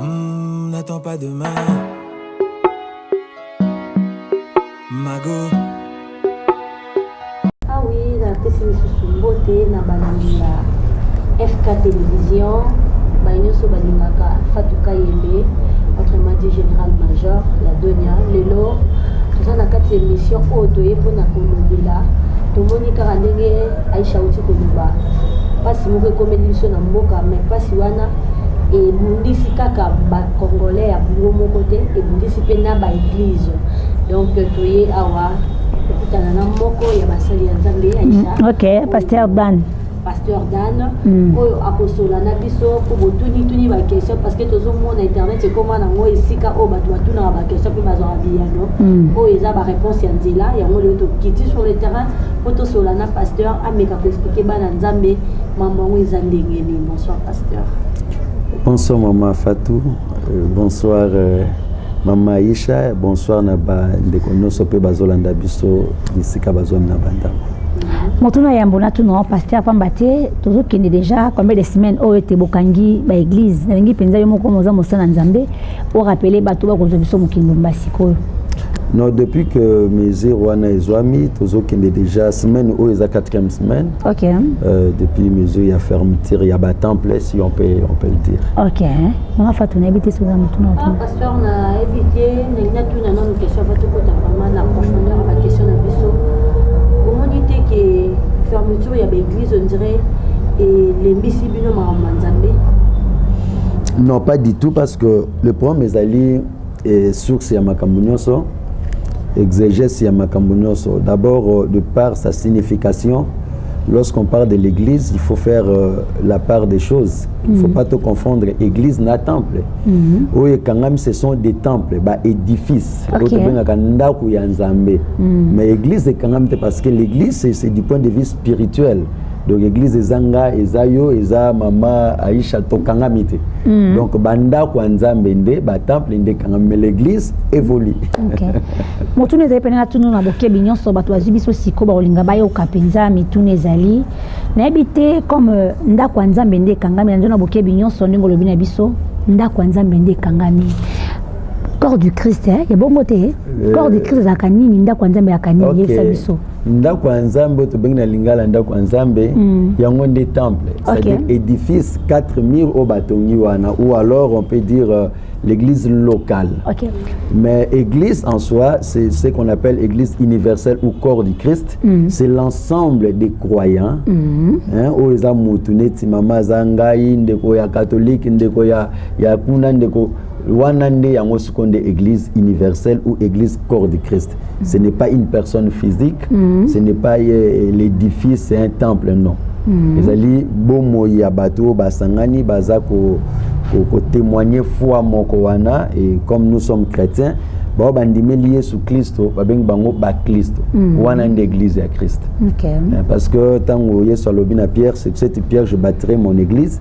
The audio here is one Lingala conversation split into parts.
Mmh, N'attends pas demain. Mago. Ah oui, la napesi lisusu mbote na balandi ya fk télévision baye nyonso balingaka fatuka yembe notre madi général major ya donia lelo toza na kati ya emission oyo toye mpona kolobela tomoni kaka ndenge aisha auti koloba mpasi moko ekomeli biso na mboka mai mpasi wana ebundisi kaka bacongolais ya bongo moko te ebundisi mpe na baeglize donc toye awa kokutana na moko ya basali ya nzambe aisha mm, ok pasteur ban pasteur dan mm. oyo akosola na biso mpo botunituni baquestion parce que tozomona internet ekoma nango esika oyo bato batunaka baquestion mpe bazwaka biyano mm. oyo eza bareponse ya nzela yango lelo tokiti sur le terrain mpo tosola na pasteur ameka koexplike bana nzambe mambo yango eza ndenge nini bonsoir pasteur bonsoir mama fatou euh, bonsoir euh, mama aisha bonsoir na bandeko nyonso mpe bazolanda biso bisika bazwami na bandako motuna yambo natuna paster pamba te tozokende déjà combien de semaine oyo ete bokangi baeglise nalingi mpenza yo moko moza mosala na nzambe orapele bato bakozwa biso mokendo mba sikoyo non depuis que mesure wana ezwami tozokende déjà semaine oyo eza 4e semaine okay. euh, depuis mesure ya fermeture ya batemple si on peut, on peut le dire okay. mama fatu nayebi te soza motuna Frère na yebi te ndenge natuna nanu question va tokota vraiment na profondeur ya baquestion na biso omoni te ke fermeture ya baeglise on dirait elembisi bino makambo ma nzambe non pas du tout parce que le problème ezali eh, source ya makambo nyonso exégèse ya makambo nyonso d'abord euh, de par sa signification lorsqu'on parle de l'église il faut faire euh, la part des choses Il faut mm. pas te confondre église na temple. Mm -hmm. Oyo ekangami ce sont des temples, ba édifices. Okay. Oyo tobengaka ndako ya Nzambe. Mm. Mais église ekangami te parce que l'église c'est du point de vue spirituel. donc église eza nga eza yo eza mama aisha tokangami te mm. donc bandako ya nzambe nde batemple nde ekangami me l'église évolue okay. motuna ezali mpena na tunu na bokebi nyonso bato bazwi biso sikoyo bakolinga bayoka mpenza mituna ezali nayebi te comme euh, ndako ya nzambe nde ekangami nanzo na bokebi nyonso ndenge olobi na biso ndako ya nzambe nde ekangami corps du christ eh? ya bongo te eh, corps du christ ezalaka nini ndako ya nzambe ezalaka nini yebisa biso ndako ya nzambe oyo tobengi na lingala ndako ya nzambe mm. yango nde temple c'est-à-dire édifice 4 mur oyo batongi wana ou alors on peut dire euh, l'église locale. Okay. Mais église en soi, c'est ce qu'on appelle église universelle ou corps du Christ. Mm -hmm. C'est l'ensemble des croyants. Mm -hmm. hein, oyo eza mutu neti mama aza ngai ndeko ya catholique ndeko ya, ya kuna ndeko wana nde yango siko nde église universelle ou église corps du Christ. Ce n'est pas une personne physique, mm -hmm. ce n'est pas euh, l'édifice, c'est un temple, non. Mm -hmm. ezali bomoi ya bato oyo basangani baza kotémoigne ko, ko foi moko wana et comme nous sommes chrétiens bao bandimeli yesu klisto babengi bango baklisto mm. wana nde église ya krist okay. Eh, parce que ntango yesu alobi na pierre c'est cette pierre je bâtirai mon église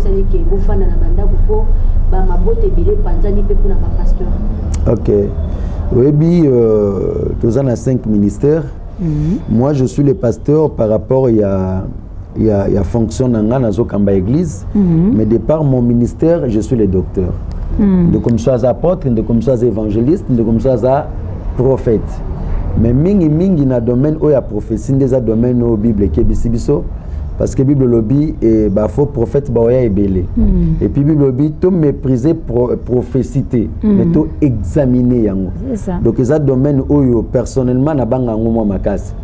esali ke bofanda na bandako mpo bamabota ebele epanzani mpe mpona bapasteur ok oyebi euh, toza na 5 ministères mm -hmm. moi je suis le pasteur par rapport ya ya, ya fonction na ngai nazokamba église mm -hmm. mais de par mon ministère je suis le docteur mm -hmm. ndeko mosusu aza apôtre ndeko mosusu aza évangéliste ndeko mosusu aza prophète mais mingi mingi na domaine oyo ya prophétie nde eza domaine oyo bible ekebisi biso parce que bible olobi eh, bafaux prophète baoya ebele mm. et puis bible olobi to méprise pro, prophétie te mm. mais to examine yango donc eza domaine oyo personnellement nabanga yango mwa makasi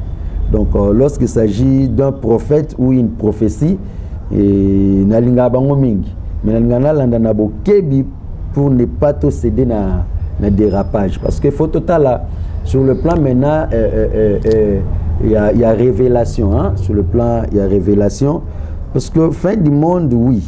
donc euh, lorsqu'il s'agit d'un prophète ou une prophétie eh, nalingaka bango mingi mais nalingaka nalanda na bokebi pour ne pas to céder na, na dérapage parce que faut totala sur le plan maintenant il euh, euh, euh, euh y, a, y a révélation hein? sur le plan il y a révélation parce que fin du monde oui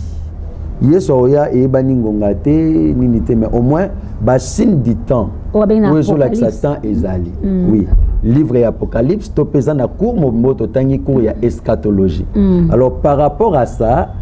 yesu aoya eyebani ngonga te nini te mais au moins basigne du temps oyo ezolakisa temps ezali mm. oui livre ya apocalypse to mpe eza na cour mobimbo totangi cour ya eschatologie mm. alors par rapport à ça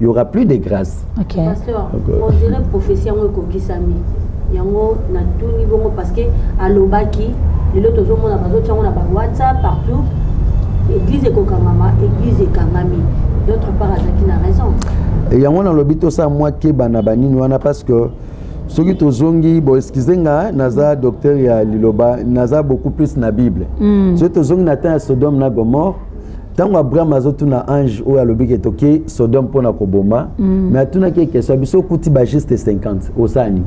il y aura plus de grâce OK pasteur okay. on dirait prophétie yango ekokisami yango natuni bongo parce que alobaki lelo tozomona bazotya yango na ba whatsapp partout église ekokangama église ekangami d'autre part azalaki na raison yango nalobi tosala mwa keba na banini wana parce que soki tozongi bo excuse nga naza docteur ya liloba naza beaucoup plus na bible mm. soki tozongi na temps ya sodome na gomore ntango abraham azotuna ange oyo alobi ke tokei sodome mpo na koboma mm. me atunaki ye question biso okuti bajuste 50 osala nini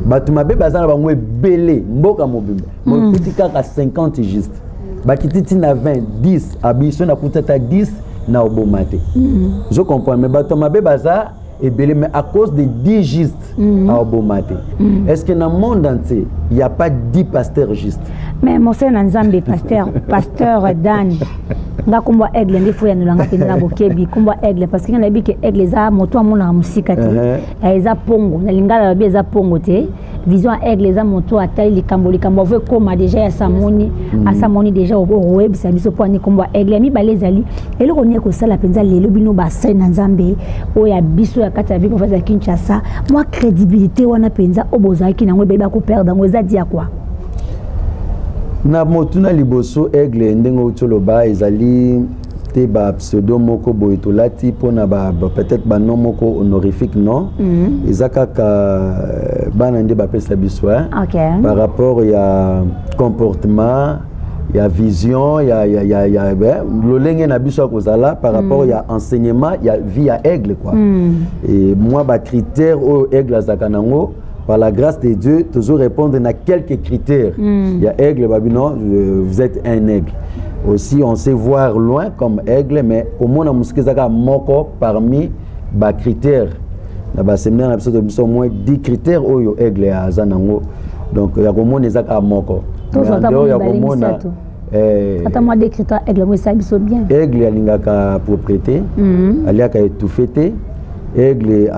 bato mabe baza na bango ebele mboka mobimba mokuti mm. kaka 50 juste bakiti ti na 20 10 abiso nakuti ata 10 na oboma te mm. zo comprendre me bato mabe baza ebele mais à cause de 10 juste mm -hmm. aoboma te mm -hmm. est ce que na monde entier il n'y a pas 10 pasteurs juste mais mosali na nzambe pasteur pasteur dan nga nkombo ya aigle nde foyanolanga mpenza na bokebi nkombo ya aigle parce que nga nayebi ke aigle eza moto amonaka mosika te uh-huh. eh, eza mpongo na lingala lobi eza mpongo te vision ya aigle eza moto atali likambo likambo avo ekoma deja ya samoni mm. asamoni deja okoyebisa biso mpo ani nkombo ya aigle ya mibale ezali eloko nini ekosala mpenza lelo bino basali na nzambe oyo ya biso ya kati ya bino mpenza ya kinshasa mwa crédibilité wana mpenza oyo bozalaki nango ebele bakoperdre yango eza dia kwa na motuna liboso aigle ndenge outi oloba ezali te ba pseudo moko boye tolati mpona ba, ba, peut-être banom moko honorifique non mm -hmm. eza kaka euh, bana nde bapesa biso hein? okay. par rapport ya comportement ya vision ya, ya, ya, ya eh, lolenge na biso ya kozala par mm. rapport mm. ya enseignement ya vie ya aigle quoi mm. e, mwa bacritère oyo aigle azalaka nango par la grâce de Dieu tozo répondre na quelques critères mm. ya aigle babi non euh, vous êtes un aigle aussi on sait voir loin comme aigle mais komona mosika ezaka moko parmi ba critères na ba séminaire na biso to biso moins 10 critères oyo aigle aza nango donc ya komona ezaka moko mais en dehors ya komona Eh, ata mwa decrita aigle yango esali biso bien aigle alingaka propriété mhm. aliaka étouffe te aigle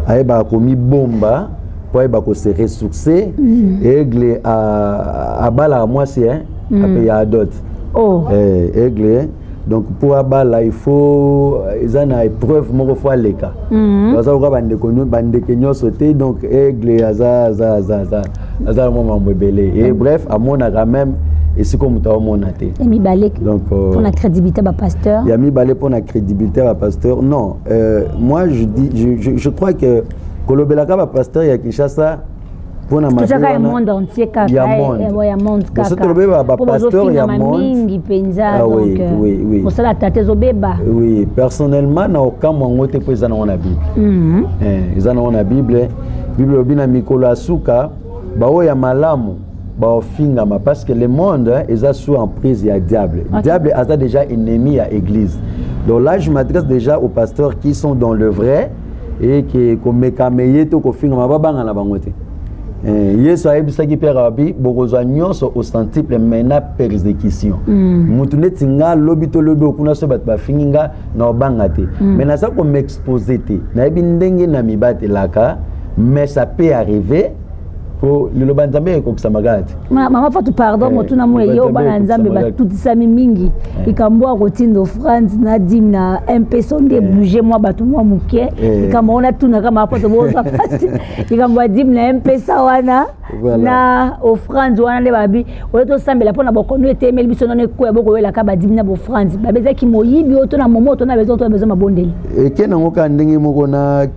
ayebaka komibomba mpo ayeba kose ressource mhm. aigle abalaka mwasi eh, mhm. ape ya adote oh. eh, aigle donc mpo abala ifaut euh, eza na épreuve moko fo aleka mhm. baza koka bandeke nyonso te donc aigle aza aza aza aza aza mwa mambo ebele e bref amonaka meme esika moto aomona te ya mibale mpona euh, crédibilité ya bapasteur ya mibale mpona crédibilité ya bapasteur non euh, moi je, dis, je, je, je crois que kolobelaka bapasteur ya kinshasa mpona mabetozaka ya monde entier kaka ya eh, monde eh, kaka tolobeba bapasteur ya mingi mpenza ah euh, kosala tata ezobeba oui personnellement na okamwa yango te mpo eza nango na bible mhm. eh, eza nango na bible bible elobi na mikolo ya suka baoyo ya malamu baofingama parce que le monde eza sous emprise ya diable okay. diable aza déjà ennemi ya église donc là je m'adresse déjà aux pasteurs qui sont dans le vrai eye ke komekama eye to kofingama babangana bango te Eh, yesu ayebisaki pierre abi bokozwa nyonso au centuple mai na persécution mm. motu neti nga lobi to lobi okuna so bato bafingi nga na obanga te mm. mai naza komexpose te nayebi ndenge na mibatelaka mais ça peut arriver po liloba ya nzambe ekokisama kaka te mama fatu pardon eh, motuna mo eyo bana nzambe batutisami mingi eh. likambo ya kotinda france na dime na mpeso nde eh. bouge mwa bato mwa moke likambo wana tunaka mama fatu boza pasi likambo ya dime na mpesa wana na ofrande wana nde babi oyo tosambela mpo na bokono etemeli biso nano ekoya bokoyelaka badimi na bofrande babezaki moyibi oyo to na momo to na bezo to na bezo mabondeli eke nango kaka ndenge moko na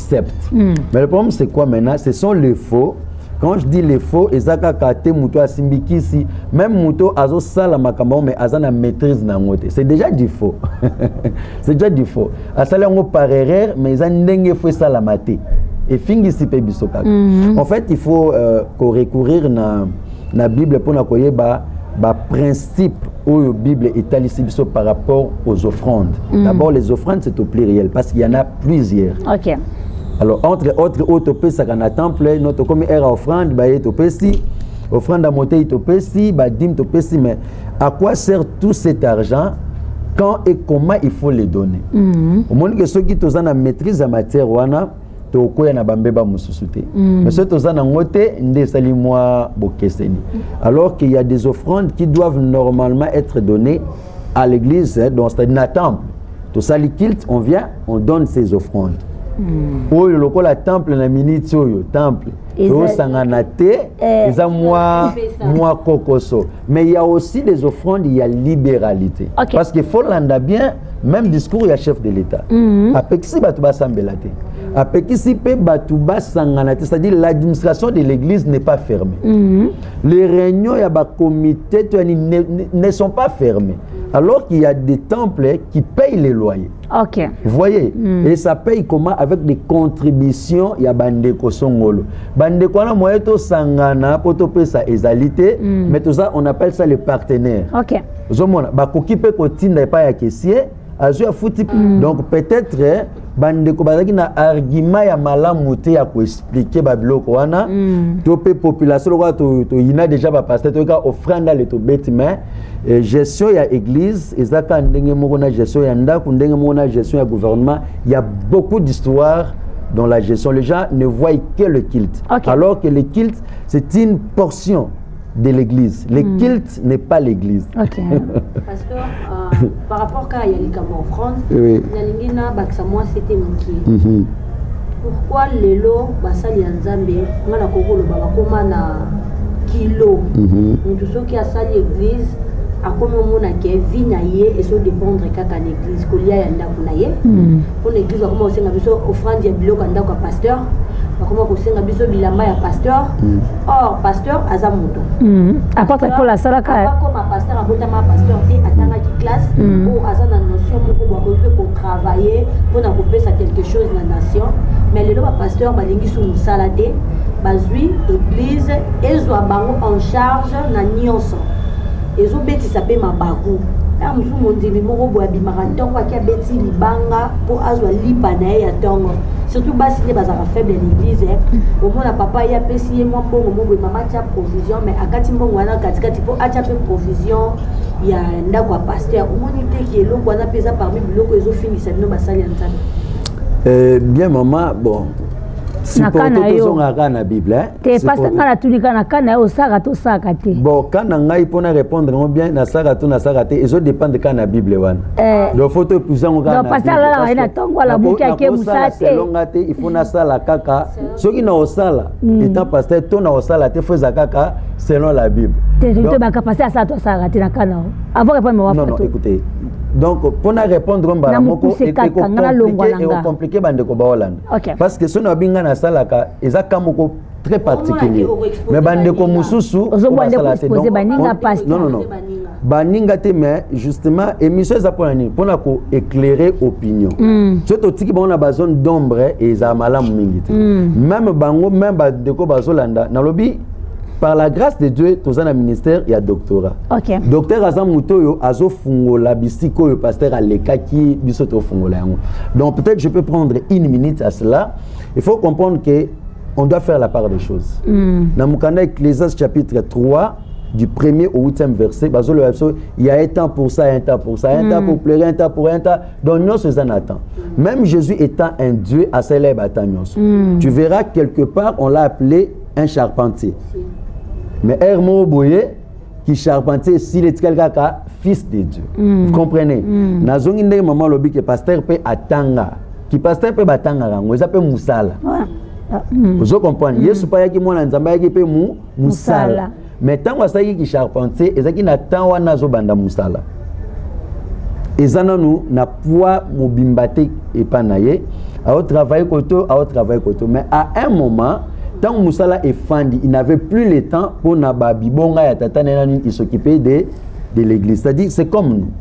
accepte mm. mais le problème c'est quoi maintenant ce sont les faux quand je dis les faux eza kaka te moto asimbi kisi même moto azosala makambo yango mais aza na maîtrise na yango te c'est déjà du faux c'est déjà du faux asali yango par erreur mais eza ndenge fo esalama te efingisi mpe biso kaka mm -hmm. en fait il faut euh, korecourir na, na bible mpo na koyeba baprincipe principe oyo bible etalisi biso par rapport aux offrandes mm. d'abord les offrandes c'est au pluriel parce qu'il y en a plusieurs okay. alors entre autres oyo topesaka na temple no tokomi ere ya offrande baye topesi offrande ya motei topesi badime topesi mais à quoi sert tout cet argent quand et comment il faut les donner mm -hmm. omoni ke soki toza na maîtrise ya matière wana tokoya na bambeba mosusu te mm. mais soki toza nango te nde esali mwa bokeseni alors qu'il y a des offrandes qui doivent normalement être données à l'église donc c'est-à-dire na temple tosali kilt on vient on donne ces offrandes mm. oyo lokola temple na minute oyo temple eosangana te eh. eza mwa mwa kokoso mais ya aussi des offrandes ya libéralité okay. parce que folanda bien même discours ya chef de l'état mm -hmm. apekisi bato basambela te apekisi mpe bato basangana te c'est-à-dire l'administration de l'église n'est pas fermée mm -hmm. les réunions ya bacomité to yani ne, ne, ne sont pas fermées alors qu'il y a des temples qui payent les loyers Ok. Vous voyez, mm. et ça paye comment avec des contributions ya bandeko songolo. Bandeko wana moyen to sangana po to pesa ezalité, mm. mais tout ça on appelle ça les partenaires. Ok. Zomona ba koki pe ko tinda epa ya caissier, azu ya futi. Mm. Donc peut-être eh, bandeko bazalaki na argument ya malamu te ya koexplike babiloko wana mm. to mpe population lokola toyina to deja bapaster toyoka ofranda le tobeti mai E, gestion ya église eza kaka ndenge moko na gestion ya ndako ndenge moko na gestion ya gouvernement ya beaucoup d'histoire dans la gestion les gens ne voient que le culte okay. alors que le culte c'est une portion de l'église le mm. culte n'est pas l'église okay. Pasteur, euh... par rapport kaka ya likambo en france oui. nalingi nabakisa mwa sete moke mm -hmm. pourquoi lelo basali ya nzambe nga nakoki koloba bakoma na kilo mm -hmm. moto soki asali église akomi omona ke vie na ye ezo dépendre kaka na église kolia ya ndako na ye mm -hmm. mpo na eglise bakoma kosenga biso offrande ya biloko ya ndako ya pasteur bakoma kosenga biso bilamba ya pasteur mm. or pasteur aza moto mm. apatre mpo asalaakoma pasteur abotama pasteur te atangaki classe mm. oyo aza na notion moko bakoki mpe kotravaille mpo na kopesa quelque chose na nation mais lelo bapasteur balingi su mosala te bazwi église ezwa bango en charge na nyonso ezo betisa pe mabaku na mosusu mondimi moko boye abimaka ntongo ake abeti libanga mpo azwa lipa na ye ya ntongo surtout basi nde bazalaka faible ya l'église eh. omona papa ye apesi ye mwa mbongo moko boye mama atya provision mais akati mbongo wana katikati mpo atya mpe provision ya ndako ya pasteur omoni te ki eloko wana mpe eza parmi biloko ezofingisa bino basali ya nzambe eh, bien mama bon siporte tozongaka na bible eh? te pasta ngai natuni kaka na ka na ye osaka to osaka te bon ka na ngai mpo na répondre yango bien nasaka to nasaka te ezo dépendre kaka na bible wana eh. donc fo to épuise yango kaka pasta alalaka ye na ntongo alamuki ake mosala te selonga te il faut nasala kaka soki na osala hmm. etant pasteur to na osala te fo eza kaka selon la bible te baka pasteur asala to asaka te na ka na yo avant répondre mawa non non écoutez donc mpo na répondre mbala moko ekomplike bandeko baolanda okay. parce que soki nabi ngai nasalaka eza ka moko très particulier mais bandeko mosusu basala te non baninga te mais justement émission eza mpona nini mpona ko éclairer opinion mm. soki totiki bango na bazone d'ombre ezala malamu mingi te mm. meme bango meme bandeko bazolanda nalobi par la grâce de dieu toza na ministère ya doctorat okay. docteur aza moto oyo azofungola bisika oyo pasteur alekaki biso tofungola yango donc peut-être je peux prendre une minute à cela il faut comprendre que on doit faire la part des choses mm. na mokanda ecclésias chapitre 3 du premier au huitième verset bazoloba biso il y a un temps pour ça un temps pour ça un mm. temps pour pleurer un temps pour un temps donc nyonso eza na temps même jésus étant un dieu asalelaki bata nyonso mm. tu verras quelque part on l'a appelé un charpentier mais heure moko boye ki charpentier esili etikali kaka fils de dieu mm. vous comprenez mm. nazongi ndenge mama alobi ke pasteur mpe atanga ki pasteur mpe batangaka yango eza mpe mosala ah. mm. ozo comprendre mm. yesu mpe ayaki mwana nzambe ayaki mpe mosala mais ntango asalaki kicharpentier ezalaki na temps wana azobanda mosala eza nanu na poids mobimba te epai na ye aotravaille kote aotravaille kote mais à un moment ntango mosala efandi il n'avait plus le temps mpo na babibonga ya tata na ye na nini il s'occupait de, de l'église c'est-à-dire c'est comme nous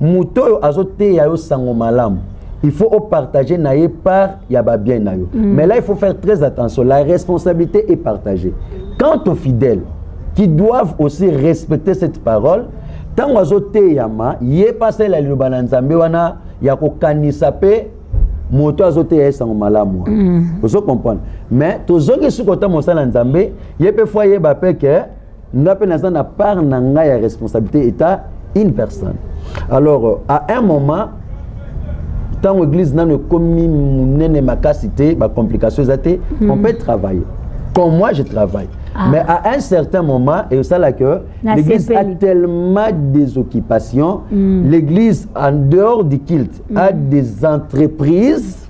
moto oyo azoteya yo sango malamu il faut opartage na ye part ya babien na yo mm. mais là il faut faire très attention la responsabilité est partagée quant aux fidèles qui doivent aussi respecter cette parole ntango azoteyama ye mpe asalela liloba na nzambe wana ya kokanisa mpe moto azoteya ye sango malamu wana mm. ozo comprendre mais tozongi sukota mosala nzambe ye mpe fo ayeba mpe ke nga mpe naza na part na ngai ya responsabilité eta une personne alors à un moment ntango église nano ekomi monene makasi te bacomplication eza te mm. on peut travailler comme moi je travaille ah. mais à un certain moment esala que l'église a tellement des occupations mm. l'église en dehors du culte mm. a des entreprises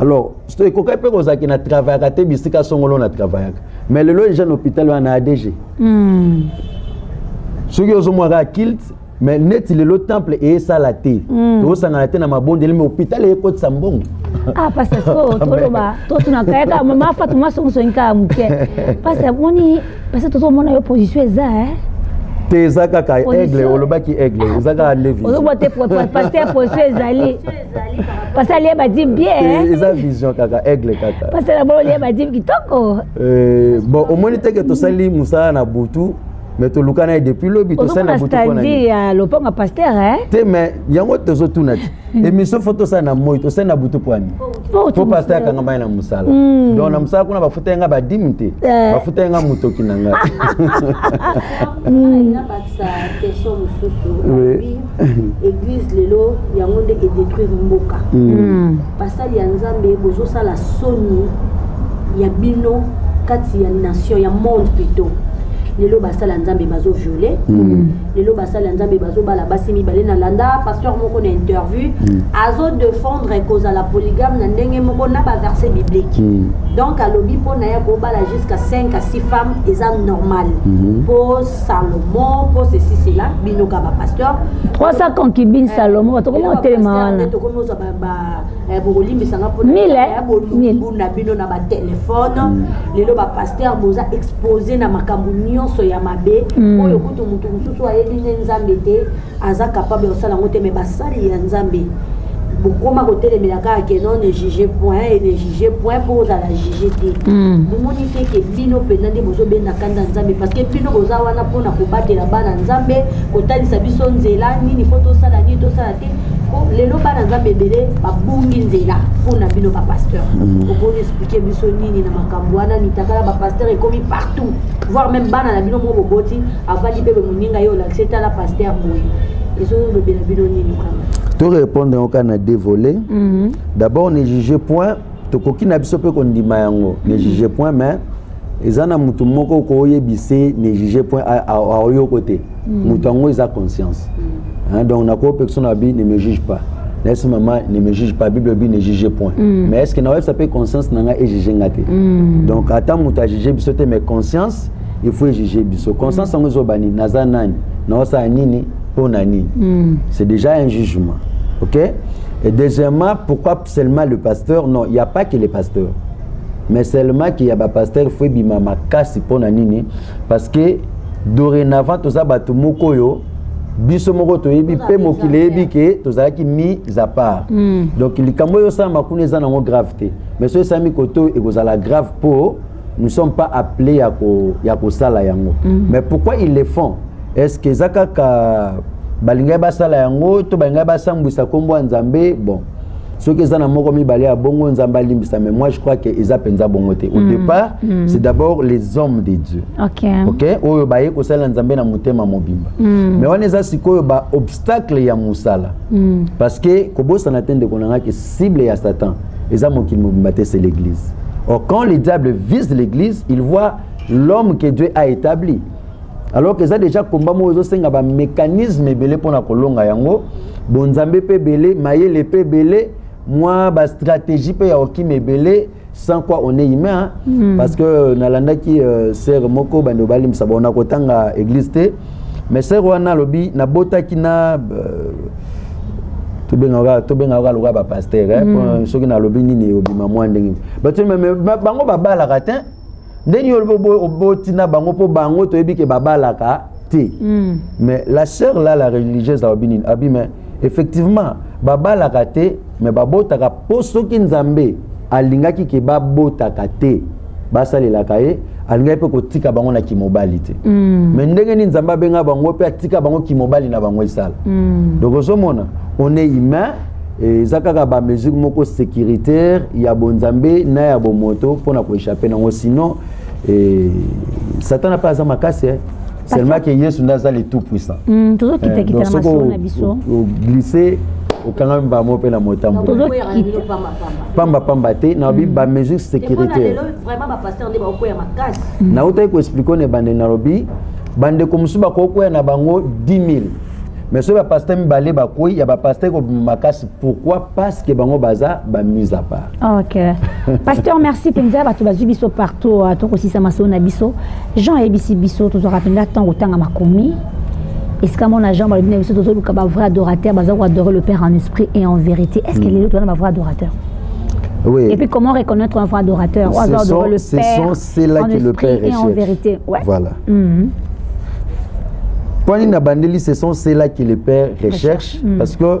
alors ekokaki mpe kozala ke na travaillaka te bisika songolo na travaillaka mais lelo eja na hôpital wana na adg hmm. soki ozomwaka kilt mais neti lelo temple eyesala te hmm. tokosangana te na mabondeli me hôpital eyekotisa mbongo ah pasta sikoyo toloba totunaka yaka mama fatu masongisongi kaka moke pasta moni pasta tozomona yo position eza eh? te eza kaka aigle olobaki aigle eza kaka levi ozobwa te paster position ezali pasi alie badime bien eh, eza vision kaka aigle kaka pasi na bolo olie badime kitoko eh, bon omoni teke tosali mosala na butu mais tolukana ye depuis lobi tosali na butu mpona ya lopango ya paster eh? te mais yango tozotuna ti émission fo tosala na moi tosali na butu mpwani po paster akanga mai na mosala hmm. donc na mosala kuna bafuta ye nga badime te bafuta ye nga motoki na ngai eglise lelo yango nde edetruire mboka hmm. basali ya nzambe bozosala soni ya bino kati ya nation ya monde plutôt lelo basala nzambe bazo viole hmm. lelo basala nzambe bazobala basi mibale na landa pasteur moko na interview hmm. azo defendre kozala polygame na ndenge moko na baverset biblique donc alobi mpo na ye kobala jusqu'à 5 à 6 femmes eza normal mpo Salomon, pour ceci, cela, binoka ba pasteur. 300 concubines eh, Salomon, bato koma otelema wana. To koma oza ba ba eh, bokolimbi sanga pona. Mille. Eh, Bolumbu na bino na ba téléphone. Mm. Lelo ba pasteur boza exposé na makambo nyonso ya mabe. Mm. Oyo kutu mutu mususu ayebi nde Nzambe te. aza capable ya kosala yango te mais basali ya nzambe bokoma kotelemela kaka ke non ne juge point et ne juge point mpo ozala juge te bomoni te ke bino mpenza nde bozobenda kanda nzambe parce que bino boza wana mpo na kobatela bana nzambe kotalisa biso nzela nini mpo tosala nini tosala te mpo lelo bana nzambe ebele babungi nzela mpo na bino bapasteur mm. okoki explike biso nini na makambo wana mitakala bapasteur ekomi partout voire même bana na bino moko boboti avandi mpe moninga ye olakisi etala paster boye ezolobela bino nini kama torépondre yango kaka na dévolé mhm. d'abord ne juge point tokoki na biso mpe kondima yango ne mhm. juge point mais eza na motu moko okoyebisa ne juge point aoyoko te mhm. motu yango eza conscience donc nakopekisa na bi ne me juge pas nayebisi mama ne me juge pas bible bi ne juge point mais est ce que nakoyebisa mpe conscience na ngai ejuge nga te donc ata motu ajuge biso te mais conscience il faut ejuge biso conscience yango ezoba nini naza nani naosala nini mpo na nini mm. c'est déjà un jugement ok et deuxièmement pourquoi seulement le pasteur non il n'y a pas que le pasteur mais seulement qu'il y a bapasteur il faut ebima makasi mpo na nini parce que dorénavant toza bato moko oyo biso moko toyebi mpe mokili eyebi ke tozalaki mis à part mm. donc likambo oyo osalama kuna eza nango grave te mais soki esalami koto ekozala grave mpo nous sommes pas appelés ya ko ya kosala yango mm -hmm. mais pourquoi ils le font est ce que eza kaka balingaki basala yango to balingaki basambwisa nkombo ya nzambe bon soki eza na moko mibale ya bongo nzambe alimbisa mais moi je crois que eza mpenza bongo te au mm. départ mm. c'est d'abord les hommes de dieu okay. Okay? oyo baye kosalela nzambe na motema mobimba mm. mais wana eza sikoyo baobstacle ya mosala mm. parce que kobosana te ndeko na ngai ke cible ya satan eza mokili mobimba te c'est l'église or quand le diable vise l'église il voit l'homme que dieu a établi alors que eza déjà komba moko ezosenga bamécanisme ebele mpo na kolonga yango bonzambe mpe ebele mayele mpe ebele mwa bastratégie mpe ya okima ebele sans quoi on est humain hein? mm. parce que euh, nalandaki euh, sere moko bande obalimbisa bona kotanga église te mais sere wana alobi nabotaki na euh, tobengaka kaka lokola bapaster eh, mm. soki nalobi nini ebima mwa ndenge bato bango babalaka te ndenge yo oboti na bango mpo bango toyebi ke babalaka te mm. mais la sœur la la religieuse alobi nini abi mais effectivement babalaka te me babotaka mpo soki nzambe alingaki ke babotaka te basalelaka ye alingaki mpe kotika bango na kimobali te mm. me ndenge nini nzambe abenga bango mpe atika bango kimobali na bango esala mm. donc ozomona on est humain eza kaka bamesure moko sécuritaire ya bonzambe na ya bomoto mpo na koechappe nango sinon eh, satana mpe aza makasi eh. seulement que yesu nde aza le tout puissant hmm, tozokitakita eh, na masolo na biso glisse okangami mbala moko mpe na motambopamba pamba te na babi hmm. bamesure sécuritaire hmm. nautaki koexplike one bande nalobi bandeko mosusu bakoki koya na bango 10 000 mais soki bapaster mibale bakwei ya bapaster kobima makasi pourquoi parce que bango baza bamise à part ok pasteur merci mpenza bato bazwi biso partout ah, tokosisa masolo na biso jean ayebisi biso tozwaka mpenza ntango otanga makomi esika mona jean balobi na biso tozoluka bavrai adorateur baza koadore le père en esprit et en vérité est ce que mm. lelo toza na bavrai adorateur Oui. Et puis comment reconnaître un vrai adorateur C'est son, le son, c'est là que le Père est en vérité. Ouais. Voilà. Mm -hmm. Quand il a bandé, ce sont ceux-là que le Père recherche, recherche. Mm -hmm. parce que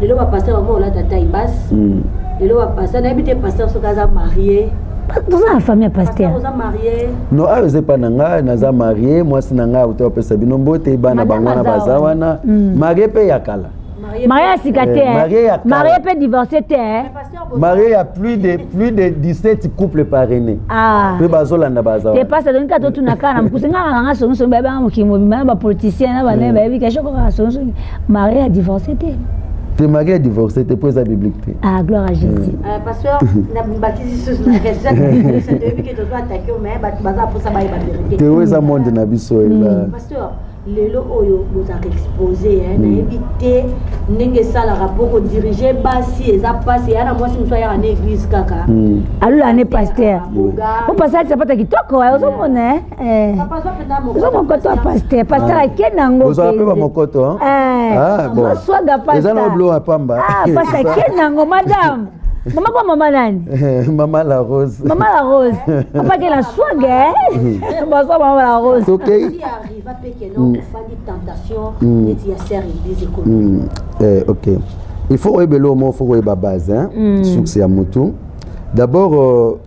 lelo ba pasteur bango olata taille basse hmm. lelo ba pasteur nayebi te pasteur soki aza marie toza na famille ya paster no awa eza epa na ngai naza marie mwasi na ngai auta bapesa bino mbote bana bango wana baza wana hmm. marie mpe ya kala marie ya sika te eh, marie mpe divorce te eh. marié ya plus de plus de 17 couple parrainé ah. mpe bazolanda baza te pasi atongi kaka totuna kaka na mokuse ngaka kanga songisongi bayebi anga mokili mobimba na bapoliticien na banaye mm. bayebi kashoko kaka songisongi marié ya divorce te te marié ya divorce te mpo eza biblique te ah gloire à jésus mm. euh, pasteur nabakisi susu na question toyebi ke tozo attaque mais bato baza mposa bayeba verité te oyo eza monde na biso eza mm. lelo oyo bozalaka expose eh, hmm. nayebi te ndenge esalaka mpo kodirige basi eza mpasi eya na mwasi mosu ayaka na église kaka hmm. alola ne paster po paster alisa pata kitoko eh, ozomona eh? ozomokoto ya paster paster ah. ake nango ozala mpe bamokoto oswaga ah, paster eza na oblo ya pamba ah, paster ake nango madame mama kwa mama nani mama la rose mama la rose apakela swage bazwa mama la rose okay. Eva pe que non ofandi tentation neti ya serre église ekomi. Eh OK. Il faut oyeba eloko moko faut koyeba base hein. Mm. Succès ya mutu. D'abord euh,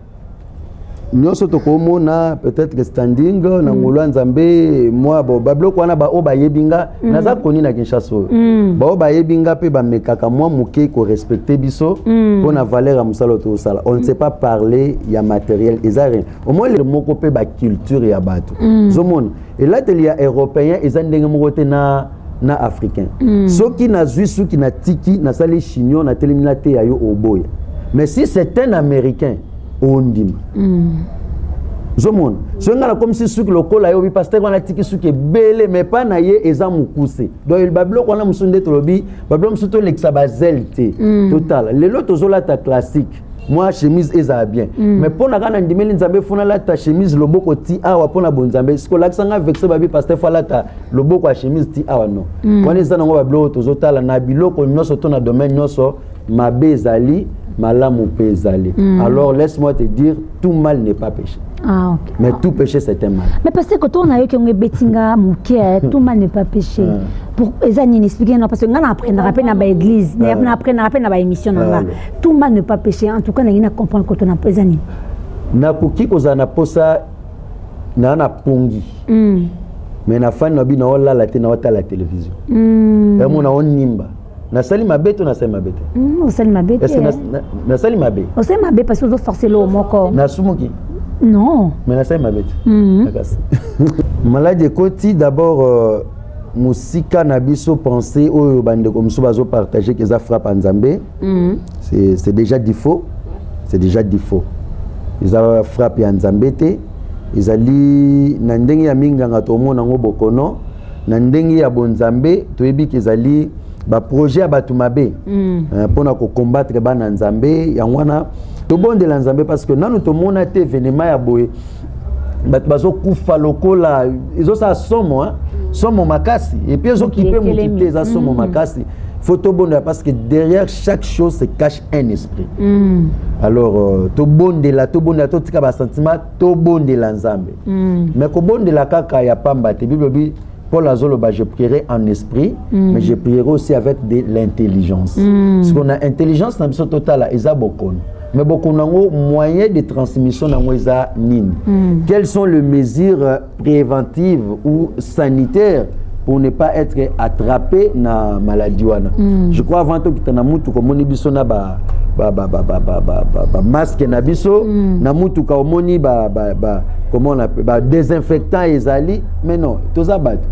nyonso tokomona peut-être que standing mm. na ngolu ya nzambe mwa babiloko wana baoyo bayebi nga mm. naza koni na kinshasa oyo mm. baoyo bayebi nga mpe bamekaka mwa moke korespecte biso mpo na valeur ya mosala oyo tozosala on ne sait pas parler ya matériel eza rien omoni moko mpe baculture ya bato mm. zomona elateli ya européen eza ndenge moko te na na africain mm. soki nazwi suki natiki nasali chignon natelemi nateya yo oboya mais si c'est un américain ondima mm. zomona soki ngai nakomisi suki lokola yo bipaster wana atiki suki ebele mais mpa na ye eza mokuse donc babiloko wana mosusu nde tolobi babiloko mosusu tolekisa bazele te mm. totala lelo tozolata classique mwa chemise ezala bien mm. mais mpo na kaka nandimeli nzambe mpo nalata chemise loboko ti awa mpo na bonzambe siko olakisa ngai vexe babi paster fo alata loboko ya chemise ti awa no mm. wana eza nango babiloko tozotala na biloko nyonso to na domaine nyonso mabe ezali malamu mpe ezali mm. alors laisse moi te dire tout mal n'est pas péché ah, okay. mais tout péché c'est un mal mais parce que tourna yo kionge betinga moke tout mal n'est pas péché ah. pour eza nini expliquer non parce que ngana apprendre rappé na ba église na ah. apprendre rappé na ba émission na nga tout mal n'est pas péché en tout cas na ngina comprendre ko tona eza nini na koki kozala na posa na na pongi mm. mais na fani na bino olala te na otala télévision mm. emona onimba nasali mabe to nasali mabe te hmm, osali mabe te nasali mabe osali mabe parce que ozo forcer loo moko nasumuki non mais nasali mabe te hmm. makasi maladi ekoti d'abord euh, mosika na biso pensée oyo bandeko mosusu bazopartage ke eza frappe ya nzambe hmm. c'est déjà difaux c'est déjà difaux eza frappe ya nzambe te ezali na ndenge ya minganga tomona yango bokono na ndenge ya bonzambe toyebi ke ezali baprojet ya bato mabe mm. eh, mpo na kokombattre bana nzambe yango wana tobondela nzambe parce que nanu tomona te evenema ya boye bato bazokufa lokola ezosala somo somo makasi epuis ezokipe moki te eza somo mm. makasi faut tobondela parce que derrière chaque chose se cache un esprit mm. alors euh, tobondela tobondela totika basentiment tobondela nzambe mm. me kobondela kaka ya pamba te bible bi paul azoloba je prierai en esprit mm. mais je prierai aussi avec de l'intelligence mm. siko na intelligence na biso totala eza bokono mais bokono yango moyen de transmission na yango eza nini mm. quelles sont les mesures préventive ou sanitaire pour ne pas être attrapé na maladie wana mm. je crois avant tokita na mutuka omoni biso na ba bamaske na biso mm. na mutuka omoni ba, ba, ba, comment on appelle ba désinfectant ezali mais non toza bato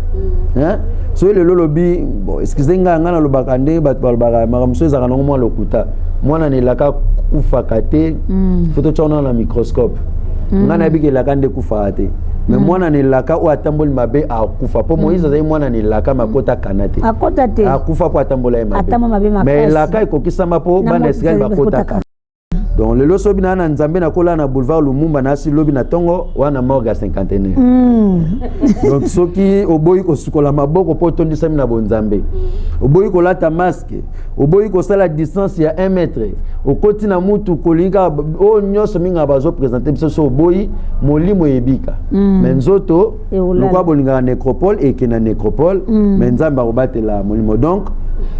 mm. hein? soki lelo olobi bon, excuse ngai ngai nalobaka ndenge bato balobaka makambo mosusu ezalaka nango mwa lokuta mwana na elaka kufaka te mm. foto tya wana na microscope mm. ngai nayebi ke elaka nde ekufaka te me mm. mwana na elaka oyo atamboli mabe akufa mpo mm. moïse azali mwana na elaka me akota kana te akota te akufa mpo atambola ye mabe me elaka ekokisama mpo bana ya israele bakotaka donc lelo so bina na nzambe nakola na boulevard lumumba nasi lobi na ntongo wana morga cinquantenaire mm. donc soki oboyi kosukola maboko mpo otondisami na bonzambe oboyi kolata mas oboyi kosala distance ya 1 mètre okoti na mutu kolingi kaka oyo oh, nyonso mingaka bazopresente biso so oboyi molimo eyebika mm. me nzoto lokola bolingaka necropole eke na necropole mm. me nzambe akobatela molimo donc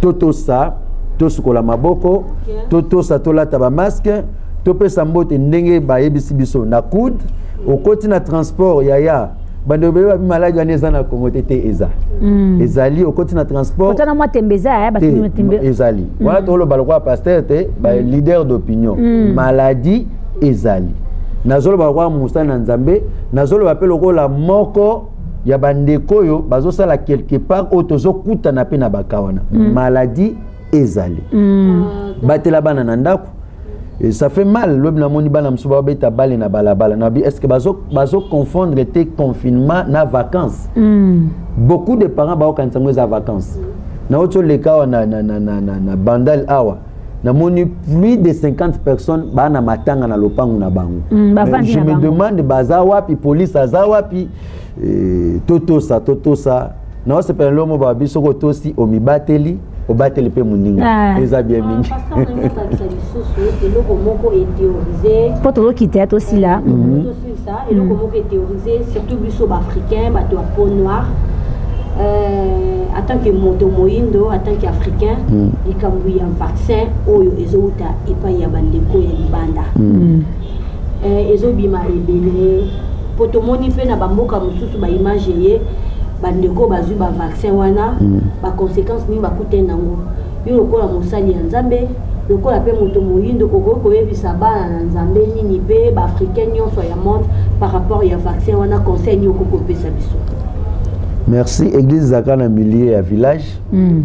totosa tosukola maboko totosa tolata bamaske topesa mbote ndenge bayebisi biso na coude okoti na transport yaya bando bebe babi maladi wana eza na kongo te te eza mm. ezali okoti na transportotana mwa tembe eza ya batembe ezali mm. wana toloba lokola pasteur te ba mm. leader d'opinion mm. maladi ezali nazoloba lokola mosali na nzambe nazoloba mpe lokola moko ya bandeko oyo bazosala quelque part oyo tozokutana mpe na baka wana mm. maladi ezali mm. batela bana na ndako Et ça fait mal lobi namoni bana mosusu babeta bale na balabala nabi est ce que bazoconfondre te confinement na vacances mm. beaucoup de parents baokanisa yango eza vacances nauti oleka awa na, na, na, na, na, na bandal awa namoni plus de 50 personnes baa na matanga na lopango na bango mm, je me bango. demande baza wapi police aza wapi e, totosa totosa naosepela lelo mo babi soki otosi omibateli obateli mpe moninga ah. eza bien ah, mingi mpo tozokita ya tosila mhm. eloko mhm. moko etheorise surtout biso baafricain bato ya peau noire Euh, en tant que moto moyindo en tant que africain mm. likambo ya vaccin oyo ezowuta epai ya bandeko ya libanda mm. eh, ezobima ebele mpo tomoni mpe na bamboka mosusu baimage eye bandeko bazwi bavaccin wana mm. baconséquence nini bakute nango yo lokola mosali ya nzambe lokola mpe moto moyindo okoki koyebisa bana na nzambe nini mpe baafricain nyonso ya monde par rapport ya vaccin wana conseil nini okoki kopesa biso merci église ezalaka na milieu ya village mm.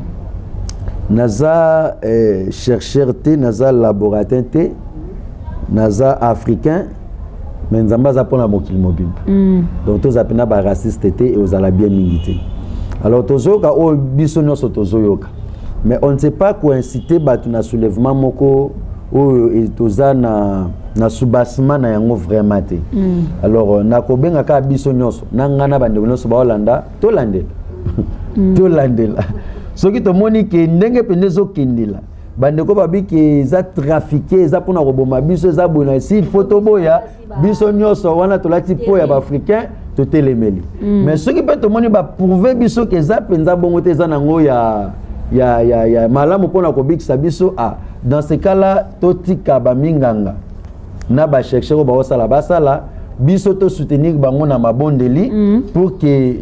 naza eh, chercheur te naza laboratin te naza africain mais nzambe aza mpona mokili mobimba mm. donc toza mpena baraciste te eozala bien mingi te alors tozoyoka oyo biso nyonso tozoyoka mais on ne sait pas koincite bato na soulèvement moko oyo e, toza na, na soubassement na yango vraiment te mm. alors euh, nakobenga kaka biso nyonso na ngai na bandeko nyonso baolanda tolandela mm. tolandela soki tomoni ke ndenge mpenza ezokendela bandeko babiki eza trafike eza mpona koboma biso eza boye na sil fo toboya biso nyonso wana tolati mpo ya baafricain totelemeli mm. mais soki mpe tomoni baprouve biso ke eza mpenza bongo te eza nango ya, ya, ya, ya malamu mpona kobikisa biso a ah, dans ce cas là totika baminganga na bacherchere oyo baosala basala biso tosoutenir bango na mabondeli mm. pour ke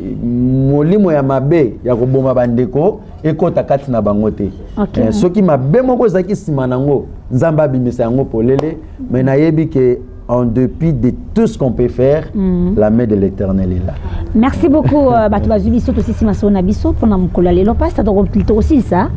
molimo ya mabe ya koboma bandeko ekota kati na bango te okay. eh, soki mabe moko ezalaki nsima na yango nzambe abimisa yango polele me nayebi ke en dépit de tout ce qu'on peut faire, mm. la main de l'éternel est là. Merci beaucoup, euh, bato bazwi biso tosisi masolo na biso mpo na mokolo ya lelo pasta tokosilisa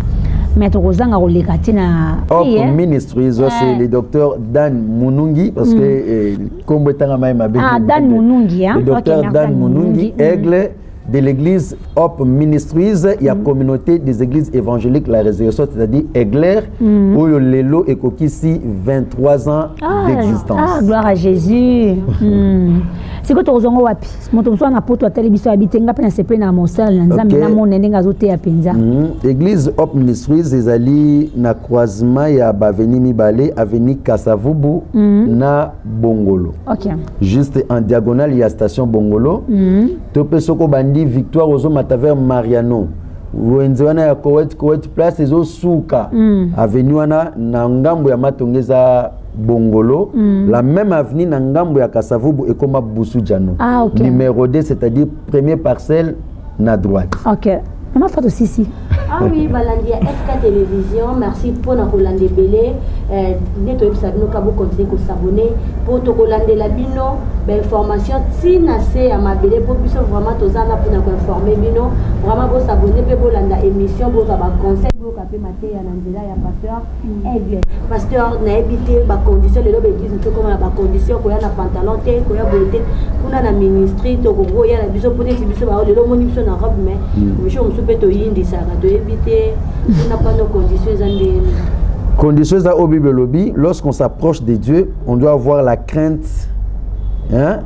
mais tokozanga koleka te na ok hein. ministre izo eh. c'est le docteur dan munungi parce que mm. eh, nkombo etangama ye mabe ah, dan munungi hein. le docteur dan munungi mm. aigle de l'église Hope Ministries ya mm. communauté des églises évangéliques la résurrection c'est-à-dire Egler mm. oyo lelo ekokisi 23 ans ah, d'existence ah gloire à Jésus mm. sikoyo tokozwa ngo wapi moto mosusu na poto atali biso abi te nga mpe nasepeli na mosala na nzambe okay. namona ndenge azoteya mpenza mm. église Hope Ministries ezali na croisement ya baveni mibale aveni kasavubu mm. na bongolo okay. juste en diagonale ya station bongolo mm. to mpe soki obandi victoire ozomata vers mariano wenze wana ya coet coet place ezosuka mm. aveni wana na ngambo ya matonge eza bongolo mm. la même avenue na ngambo ya kasavubu ekoma busu jano ah, okay. numero 2 c'est-à-dire premier parcelle na droite okay. Ma fato sisi. Ah oui, balandi ya FK Télévision, merci mpo na kolanda ebele. Eh, nde toyebisa bino ka bo continuer ko s'abonner mpo tokolandela bino ba information ti na se ya mabele mpo biso vraiment toza na mpo na ko informer bino. Vraiment bo s'abonner mpe bolanda émission bozwa ba conseils toyoka mpe mateya na nzela ya pasteur mm. aigle pasteur nayebi te bacondition lelo baeglise moto ekoma na bacondition koya na pantalon te koya boye te kuna na ministry tokoki koya na biso mpo neti biso bao lelo omoni biso na robe mai mm. misho mosusu mpe toyindisaka toyebi te kuna pano condition eza ndeni condition eza oyo bible elobi lorsqu'on s'approche de dieu on doit avoir la crainte hein?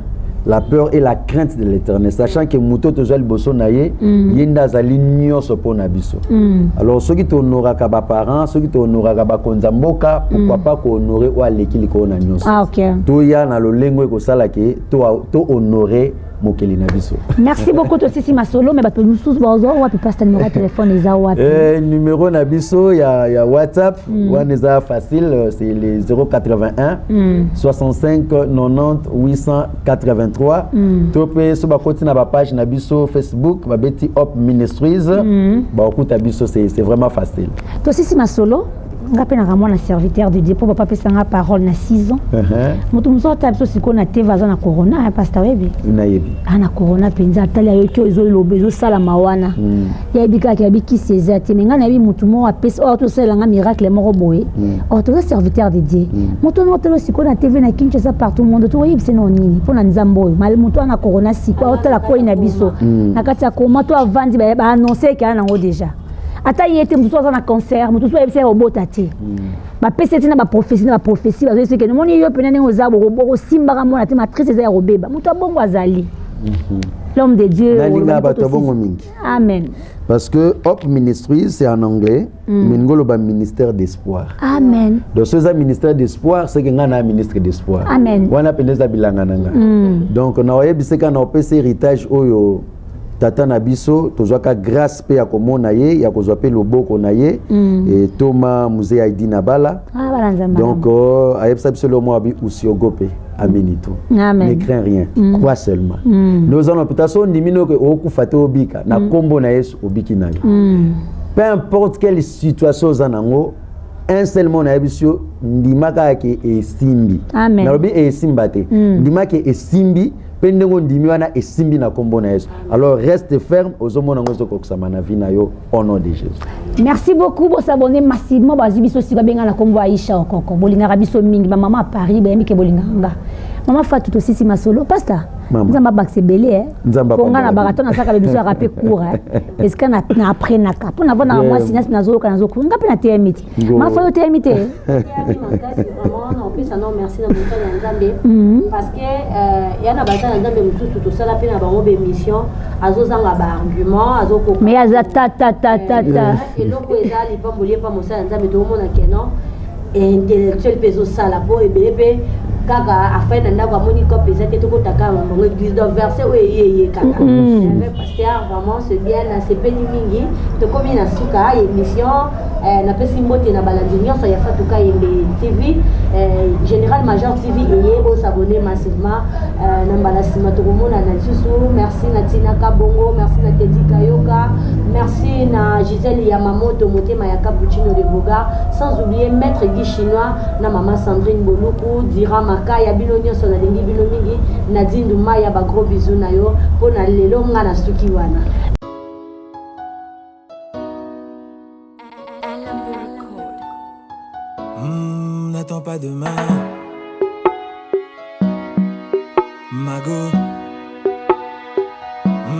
la peur et la crainte de l'éternel sachant que moto tozwa liboso na ye mm. ye nde azali nyonso mpo na biso mm. alors soki tohonoraka baparent soki tohonoraka bakonzi ya mboka pourkoi mm. pas kohonore oyo aleki likolo na nyonso ah, okay. toya na lolengo ekosala ke tohonore to mokeli na biso merci beaucoup tosisi masolo me bato mosusu bazwa wapi pasta numero ya telefone eza wapi eh, numero na biso ya, ya whatsapp Mm. wana eza facile euh, c'est le 081 mm. 65 90 883 mm. to mpe so bakoti na bapage na biso facebook babeti op ministries mm. bakokuta biso c'est vraiment facile tosisi masolo nga mpe naka mwana serviteur de dieu mpo papa apesa nga parole na 6 ans uh-huh. moto mosusu atala biso sikoyo na teve aza na corona ya pasta oyebi nayebi a ah, na corona mpenza atali ayoki oyo ezoloba ezosalama wana mm. yayebi kaka yayebi kisi eza te me ngai nayebi motu moko apesi oyo tosalela ngai miracle moko boye hmm. oyo toza serviteur de dieu hmm. moto wana otala sikoyo na tv na kinshasa partout monde tokoyebisa nao nini mpo na nzambe oyo mali moto wana korona sikoyo otala koi na biso hmm. na kati ya koma to avandi baannonce ekela nango deja ata ye te mosusu aza na cancer moto mosusu ayebisa ye obota te bapesi ete na baprophesie na baprophesie bazoyebisa eke nomoni yo mpena ndenge oza bokosimbaka mwana te matrice eza ya kobeba moto abongo azali l'homme de dieu nalinga bato ya bongo mingi Amen. Parce que Hope Ministry, c'est en anglais, mm. mais nous avons ministère d'espoir. Amen. Donc, ce un ministère d'espoir, c'est que nous avons un ministre d'espoir. Amen. On a pensé à Bilangananga. Mm. Donc, nous avons pensé qu'on a pensé héritage oyo tata na biso tozwaka grâce mpe ya komona ye ya kozwa mpe loboko na ye mm. e, toma muzee aidi na bala ah, donc euh, ayebisa biso leo mwa bi usiogope amini tout ne crains rien mm. crois seulement mm. nde oza na hôpital so ondimi noke okokufa te obika na nkombo mm. na yesu obiki na yo mm. peu importe quelle situation oza nango un seul mot nayebisi yo ndima kaka ke esimbi nalobi esimba te mm. ndima ke esimbi mpe ndenge ondimi wana esimbi na nkombo na yesu alors reste ferme ozomona yango ezokokisama na vi na yo au nom de Jésus. Merci beaucoup bo s'abonner massivement ba biso si ba benga na kombo Aisha okoko. Bolingaka biso mingi ma maman à Paris ba yambi ke bolingaka nga. Maman Fatou to sisi masolo pasta. Nzamba bakse belé hein. Nzamba konga na baraton na saka biso ya rapé court hein. Est-ce que na après na ka. Pona vona moi sinas na zo ka na zo ko. Nga pe na TMT. mafa yo oteyami te opesa no merci na mosala ya nzambe mhm. parce que euh, ya na basala ya nzambe mosusu tosala mpe na bango baémission azozanga baargument azokoka mais aza tatatatata euh, euh, eloko eza lipamboli epa mosala ya nzambe tokomona keno intellectuel mpe ezosala mpo ebele mpe kaka afai na ndako amoni cope eza te tokotaka bango église donc verset oyo eyeye kaka mhm. Star vraiment c'est bien na sepeli mingi tokomi na suka ya émission eh, napesi mbote na balandi nyonso ya fatuka yembe tv eh, général major tv eye bosabone massivement eh, na mbala nsima tokomonana lisusu merci na tina kabongo merci na tedi kayoka merci na gisele ya mamoto motema ya cappuccino de boga sans oublier maître guy chinois na mama sandrine boluku dira makaya bino nyonso nalingi bino mingi Nadine Dumaya ba gros bisous na yo mpo na lelo nga na suki wana. pas demain. Mago.